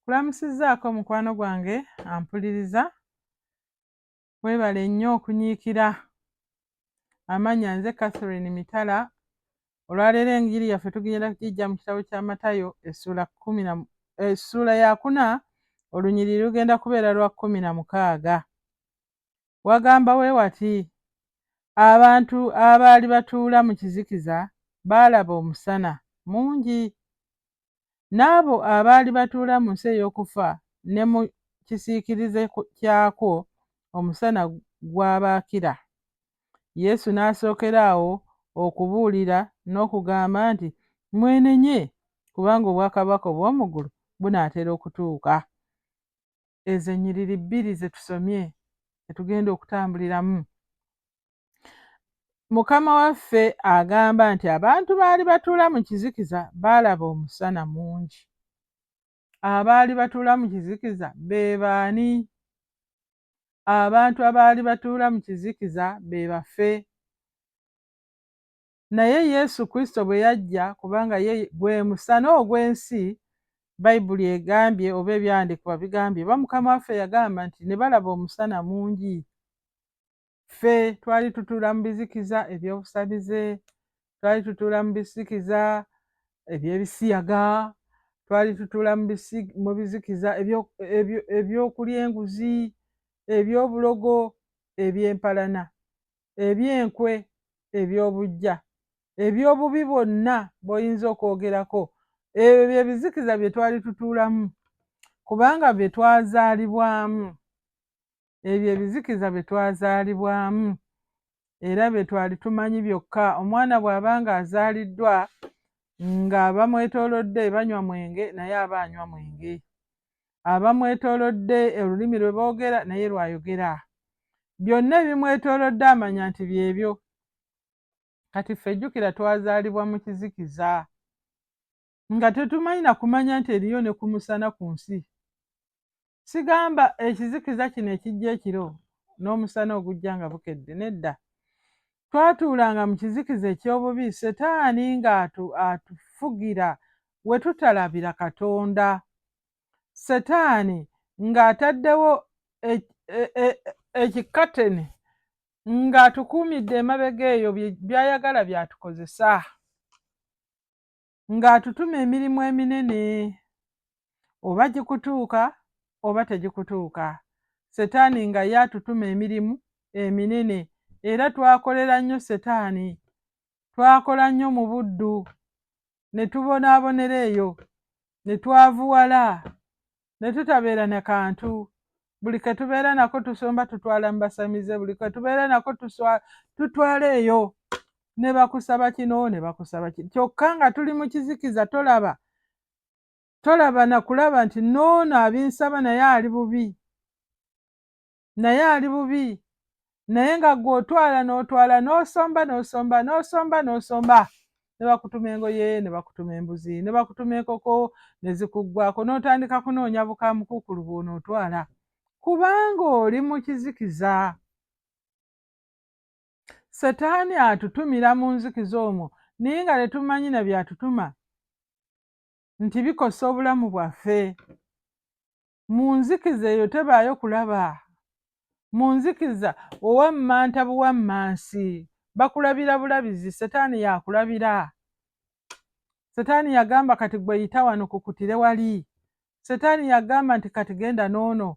kulamusizzaako mukwano gwange ampuliriza weebale nnyo okunyiikira amanya nze catherine mitala olwaleero enjiri yaffe tugenda kugijja mu kitabo kya matayo essuula kumi na essuula yakuna olunyiriri lugenda kubeera lwa kumi na mukaaga wagamba we wati, Abantu abaali batuula mu kizikiza baalaba omusana mungi, n'abo abaali batuula mu nsi ey'okufa ne mu kisiikirize kyakwo omusana gwabaakira. Yesu n'asookera awo okubuulira n'okugamba nti, Mwenenye, kubanga obwakabaka obw'omu ggulu bunaatera okutuuka. ezo ennyiriri bbiri ze tusomye ze tugenda okutambuliramu mukama waffe agamba nti abantu baali batuula mu kizikiza baalaba omusana mungi abaali batuula mu kizikiza be baani abantu abaali batuula mu kizikiza be bafe naye Yesu Kristo bwe yajja, kubanga ye gwe musana ogw'ensi, Bayibuli egambye oba ebyandiikibwa bigambye oba Mukama waffe yagamba nti ne balaba omusana mungi. Ffe twali tutuula mu bizikiza eby'obusamize, twali tutuula mu bisikiza eby'ebisiyaga, twali tutuula mu bizikiza eby'okulya enguzi, eby'obulogo, eby'empalana. eby'enkwe, eby'obuggya, eby'obubi bwonna bw'oyinza okwogerako. Ebyo bye bizikiza bye twali tutuulamu kubanga bye twazaalibwamu. Ebyo ebizikiza bye twazaalibwamu era bye twali tumanyi byokka. Omwana bw'aba ng'azaaliddwa nga bamwetoolodde banywa mwenge naye aba anywa mwenge. abamwetoolodde olulimi lwe boogera naye lw'ayogera byonna ebimwetoolodde amanya nti byebyo kati ffe jjukira twazaalibwa mu kizikiza nga tetumanyi na kumanya nti eriyo ne ku musana ku nsi sigamba ekizikiza kino ekijja ekiro n'omusana ogujja nga bukedde nedda twatuulanga mu kizikiza eky'obubi setaani ng'atufugira we tutalabira katonda setaani ng'ataddewo ekikateni e, e, e, ng'atukuumidde emabega eyo by'ayagala by'atukozesa ng'atutuma emirimu eminene oba gikutuuka oba tegikutuuka setaani nga ye atutuma emirimu eminene era twakolera nnyo setaani twakola nnyo mu buddu ne tubonaabonera eyo ne twavuwala ne tutabeera na kantu buli ke tubeera nako tusomba tutwala mu basamize buli ke tubeera nako tutwala eyo ne bakusaba kino ne bakusaba kino kyokka nga tuli mu kizikiza tolaba tolaba na kulaba nti noono abinsaba naye ali bubi naye ali bubi naye nga gwe otwala n'otwala n'osomba n'osomba n'osomba n'osomba ne bakutuma engoye ne bakutuma embuzi ne bakutuma enkoko ne zikuggwako n'otandika kunoonya bukaamukukulu bw'onootwala kubanga oli mu kizikiza setaani atutumira mu nzikiza omwo naye nga tetumanyi na byatutuma nti bikosa obulamu bwaffe mu nzikiza eyo tebaayo kulaba mu nzikiza owammanta buwammansi bakulabira bulabizi setaani yakulabira setaani yagamba kati gwe yita wano kukutire wali setaani yagamba nti kati genda n'ono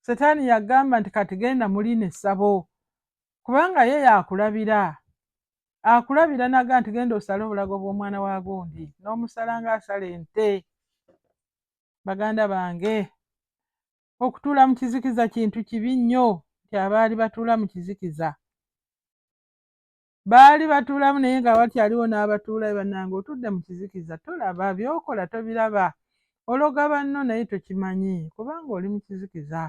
setaani yagamba nti kati genda muli ne ssabo kubanga ye yakulabira akulabira naga nti genda osale obulago bw'omwana wa gundi n'omusala ng'asala ente baganda bange okutuula mu kizikiza kintu kibi nnyo nti abaali batuula mu kizikiza baali batuulamu naye nga wakyaliwo n'abatuula banange otudde mu kizikiza tolaba byokola tobiraba ologa banno naye tokimanyi kubanga oli mu kizikiza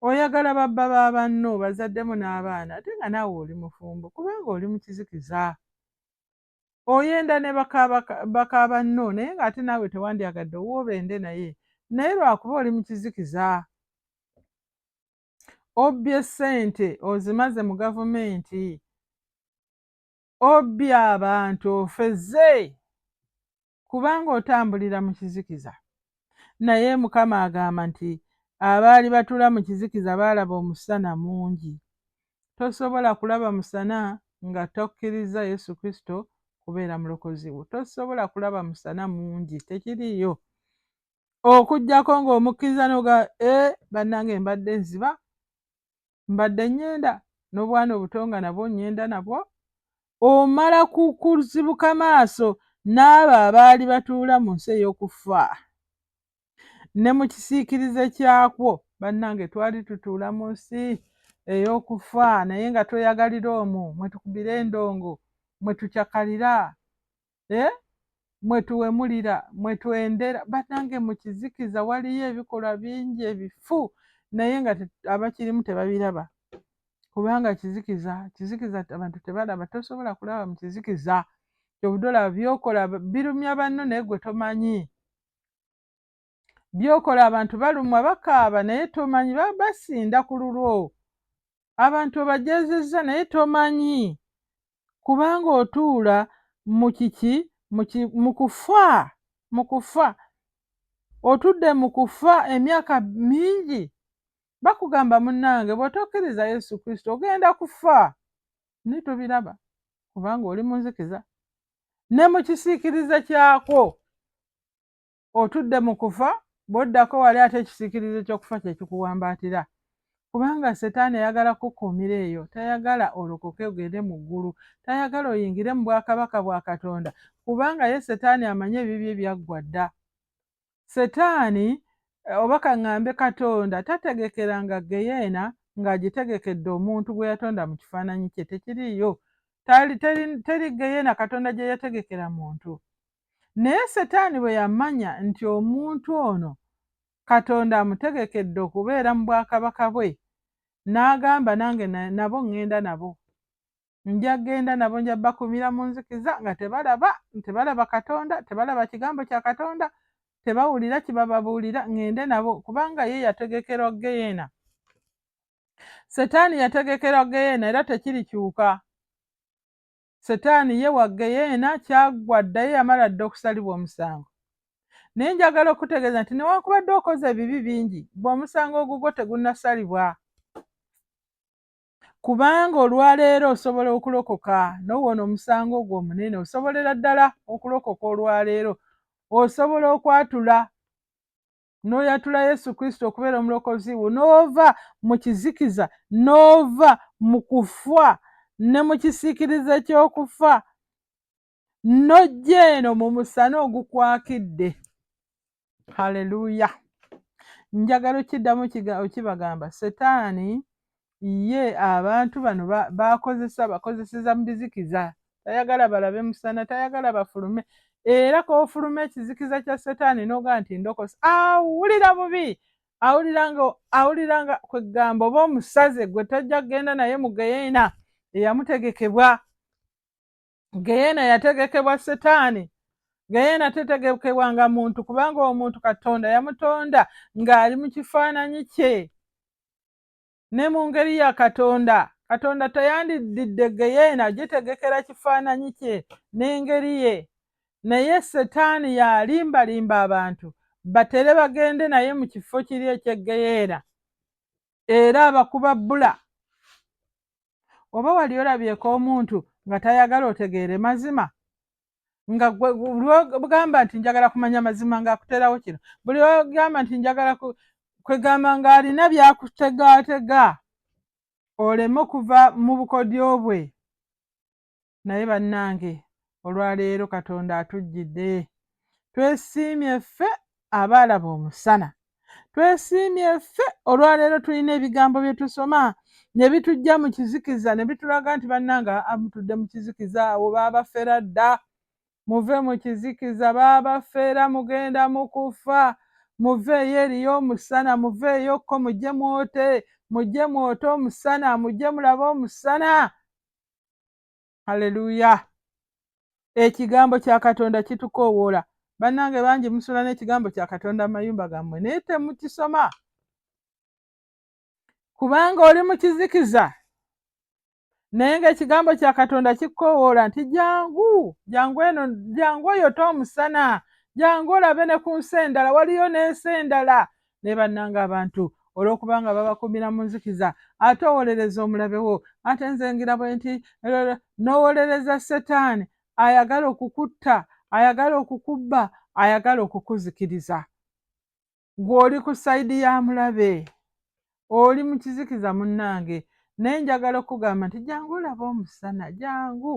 oyagala babba ba banno bazaddemu n'abaana ate nga naawe oli mufumbo kubanga oli mu kizikiza oyenda ne bakaabanno naye ng'ate naawe tewandyagadde owoobende naye naye lwakuba oli mu kizikiza obbye ssente ozimaze mu gavumenti obbye abantu ofeze kubanga otambulira mu kizikiza. Naye Mukama agamba nti abaali batula mu kizikiza baalaba omusana mungi. Tosobola kulaba musana nga tokkirizza Yesu Kristo kubeera mulokozi wo. Tosobola kulaba musana mungi, tekiriiyo. Okugyako ng'omukkiriza noga e eh, bannange mbadde nziba mbadde ŋŋenda n'obwana obuto nga nabwo ŋŋenda nabwo omala kukuzibuka maaso n'abo abaali batuula mu nsi ey'okufa ne mu kisiikirize kyakwo bannange twali tutuula mu nsi ey'okufa naye nga tweyagalira omwo mwe tukubira endongo mwe tucakalira eh? mwetuwemulira mwetwendera banange mukizikiza waliyo ebikolwa bingi ebifu naye nga abakirimu tebabiraba kubanga kizikiza kizikiza abantu tebalaba tosobola kulaba mu kizikiza kyobudola byokola birumya banno naye gwe tomanyi byokola abantu balumwa bakaaba naye tomanyi basinda ku lulwo abantu obajezezza naye tomanyi kubanga otuula mu kiki mu kufa mu kufa otudde mu kufa emyaka mingi bakugamba munnange bw'otokkiriza yesu kristo ogenda kufa naye tobiraba kubanga oli munzikiza ne mu kisiikirize kyakwo otudde mu kufa bw'oddako wali ate ekisiikirize ky'okufa kye kikuwambaatira kubanga setaani ayagala kukuumira eyo tayagala olokoke ogende mu ggulu tayagala oyingire mu bwakabaka bwa katonda kubanga ye setaani amanye ebibyo ebyaggwa dda setaani eh, oba kaŋŋambe katonda tategekera nga geyeena ng'agitegekedde omuntu gwe yatonda mu kifaananyi kye tekiriiyo teri geyeena katonda gye yategekera muntu Naye Setaani bwe yamanya nti omuntu ono Katonda amutegekedde okubeera mu bwakabaka bwe, n'agamba nange nabo ŋŋenda nabo. Nja kugenda nabo, nja bakuumira mu nzikiza nga tebalaba, tebalaba Katonda, tebalaba kigambo kya Katonda, tebawulira kibababuulira, ŋŋende nabo, kubanga ye yategekerwa ggeyeena. Setaani yategekerwa ggeyeena era tekirikyuka. setaani ye wa ggeyeena kyaggwa dda ye yamala dda okusalibwa omusango naye njagala okutegeeza nti newankubadde okoze ebibi bingi gwe omusango ogugwo tegunnasalibwa kubanga olwaleero osobola okulokoka nowona omusango ogwo omunene osobolera ddala okulokoka olwaleero osobola okwatula n'oyatula yesu kristo okubeera omulokozi wo n'ova mu kizikiza n'ova mu kufa ne mu kisiikirize ky'okufa n'ojja eno mu musana ogukwakidde haleluya njagala okiddamu okibagamba setaani ye abantu bano bakozesa bakozeseza mu bizikiza tayagala balabe musana tayagala bafulume era kofuluma ekizikiza kya setaani noga nti ndokosa awulira bubi awuliranga awuliranga kwegamba oba omusaze gwe tojja kugenda naye mu geyena eyamutegekebwa geyena yategekebwa setaani geyena tetegekebwanga muntu kubanga omuntu katonda yamutonda ng'ali mu kifaananyi kye Ne mu ngeri ya Katonda, Katonda teyandiddidde ggeyeena gitegekera kifaananyi kye n'engeri ye, naye Setaani y'alimbalimba abantu batere bagende naye mu kifo kiri eky'e ggeyeena era abakuba bbula. Oba wali olabyeko omuntu nga tayagala otegeere mazima? nga gwe bwogamba nti njagala kumanya mazima ngaakuteerawo kino buli ogamba nti njagala kwegamba ng'alina byakutegaatega oleme okuva mu bukodyo bwe naye bannange olwaleero katonda atujjidde twesiimye ffe abaalaba omusana. Twesiimye ffe olwaleero tulina ebigambo bye tusoma ne bitujja mu kizikiza ne bitulaga nti bannanga amutudde mu kizikiza awo baabafera dda muve mu kizikiza baabafera mugenda mu kufa muveeyo eriyo omusana muveeyo kko mujje mwote mujje mwote omusana mujje mulabe omusana haleluya ekigambo kya katonda kitukoowoola bannange bangi musula n'ekigambo kya katonda mu mayumba gammwe naye temukisoma kubanga oli mu kizikiza naye ng'ekigambo kya katonda kikkoowoola nti jangu jangu eno jangu oyote omusana jangu olabe ne ku nsi endala waliyo n'ensi endala naye bannanga abantu olwokubanga babakumira mu nzikiza ate owolereza omulabe wo ate nze ngira bwe nti nowolereza setaani ayagala okukutta ayagala okukubba ayagala okukuzikiriza gwe oli ku sayidi ya mulabe oli mu kizikiza munnange naye njagala okugamba nti jangu olaba omusana jangu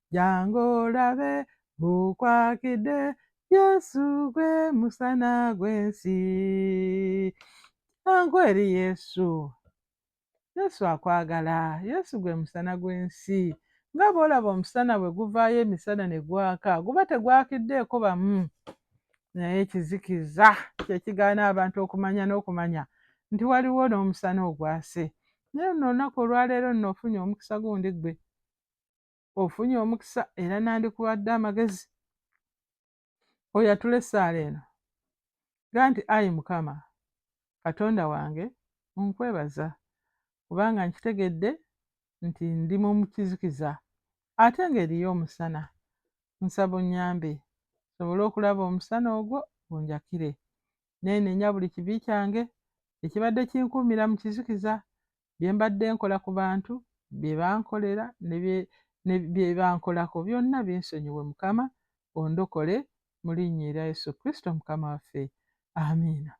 jangu olabe gukwakidde yesu gwe musana gw'ensi jangu eri yesu yesu akwagala yesu gwe musana gw'ensi nga bw'olaba omusana bwe guvaayo emisana ne gwaka guba tegwakiddeeko bamu naye ekizikiza kye kigaana abantu okumanya n'okumanya nti waliwo n'omusana ogwase naye luno olunaku olwaleero nno ofunye omukisa gundi ggwe ofunye omukisa era nandikuwadde amagezi oyatula essaala eno ga nti ayi mukama katonda wange nkwebaza kubanga nkitegedde nti ndi mu kizikiza ate ng'eriyo omusana nsaba onnyambe sobole okulaba omusana ogwo gunjakire neenenya buli kibi kyange ekibadde kinkuumira mu kizikiza bye mbadde nkola ku bantu bye bankolera ne bye bankolako byonna binsonyiwe mukama ondokole mu linnya erya Yesu Kristo mukama waffe amiina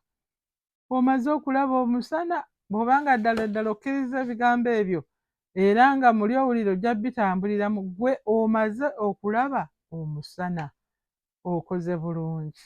omaze okulaba omusana bw'obanga ddala ddala okkiriza ebigambo ebyo era nga muli owulira ojja bitambulira mu ggwe omaze okulaba omusana okoze bulungi